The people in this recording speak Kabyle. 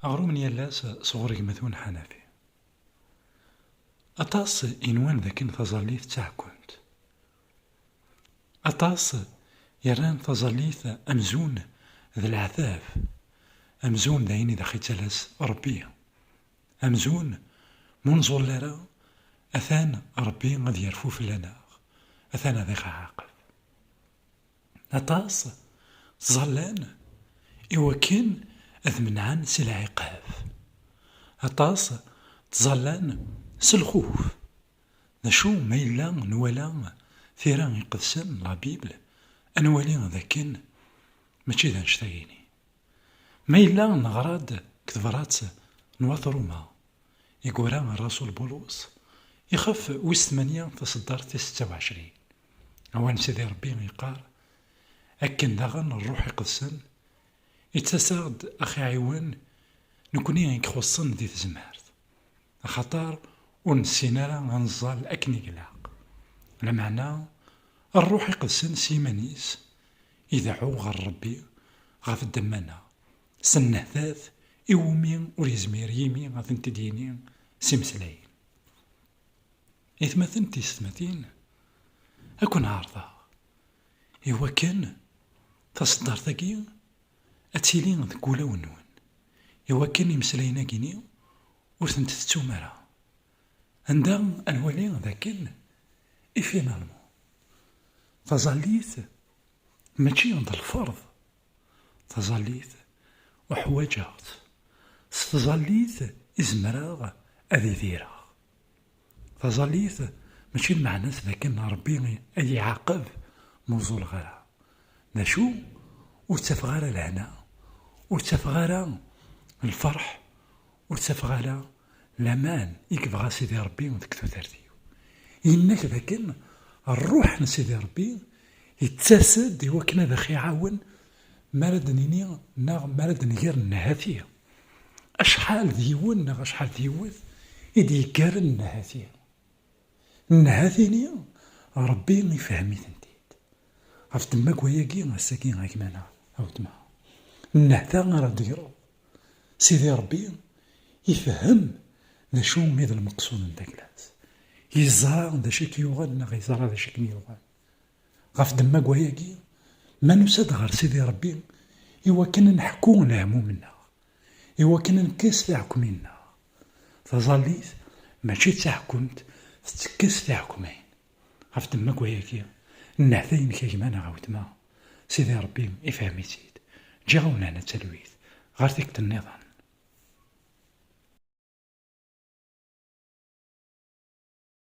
Aɣrum n yal ass sɣur gma-twen Ḥanafi. Aṭas i nwan dakken taẓallit d taɛekkunt. Aṭas i rran taẓallit amzun d leɛtab, amzun d ayen i d aɣ-ittalas Ṛebbi, amzun m'ur nẓul ara atan Ṛebbi ad yerfu fell-aneɣ, atan ad iɣ-iɛaqeb. Aṭas ttẓallan i wakken ad menɛen si lɛiqab. Aṭas ttẓallan s lxuf. D acu ma yella nwala tira iqedsen, la Bible, ad nwali d akken mačči d annect-agi-nni. Ma yella neɣra-d deg tebrat n Wat Ruma. Igura rrasul Bulus ixef wis tmanya taseddart tis setta u ɛecrin, awan Sidi Rebbi yeqqar, Akken daɣen Rruḥ Iqedsen ittasaɣ-d a ɣ-iɛiwen nekni i ixuṣṣen di tezmert, axaṭer ur nessin ara a neẓẓal akken i glaq. Lameɛna Rruḥ Iqedsen s yiman-is ideɛɛu ɣer Rebbi ɣef ddemma-nneɣ, S nnehtat i wumi ur yezmir yimi ad tent-id-yini s imeslayen. Itmaten tiysetmatin, ad ken-ɛerḍeɣ i wakken taseddart-agi ad tili deg wulawen-nwen, i wakken imeslayen-agi-ni ur tent-tettum ara. Anda ad nwali d akken i finalman taẓallit mačči d lferḍ Taẓallit, uḥwaǧeɣ-tt. S tẓallit i zemreɣ ad idireɣ. Taẓallit mačči lmeɛna-s d akken Ṛebbi a yi-iɛaqeb ma ur ẓuleɣ ara. D acu? Ur ttafeɣ ara lehna, ur ttafeɣ ara lferḥ, Ur ttafeɣ ara laman i yebɣa Sidi Ṛebbi deg tudert-iw. Yenna-k d akken Ṛṛuḥ n Sidi Ṛebbi yettas-d i wakken ad aɣ-iɛawen mi ara d-nini neɣ mi ara d-nger nnhati. Acḥal d yiwen neɣ acḥal d yiwet i d-yeggaren nnhati? Nnhati-nni Ṛebbi ifhem-itent-id. Ɣef ddemma n wayagi, ass-agi a gma neɣ a weltma, nnehta ara d-tegreḍ. Sidi Ṛebbi ifehhem d acu i d lmeqsud n taklat, yeẓra d acu i k-yuɣen neɣ yeẓra d acu i kem-yuɣen. Ɣef ddemma n wayagi, ma nusa-d ɣer Sidi Ṛebbi i wakken ad neḥku leɛmum-nneɣ, i wakken ad nekkes tiɛekmin-nneɣ. Taẓallit mačči d taḥkumt, tettekkes tiɛekmin. Ɣef ddemma n wayagi, nnehta inek a gma neɣ a wetma, Sidi Rebbi ifhem-itt-id. Ǧǧiɣ-awen hna d talwit, ɣer tikkelt nniḍen.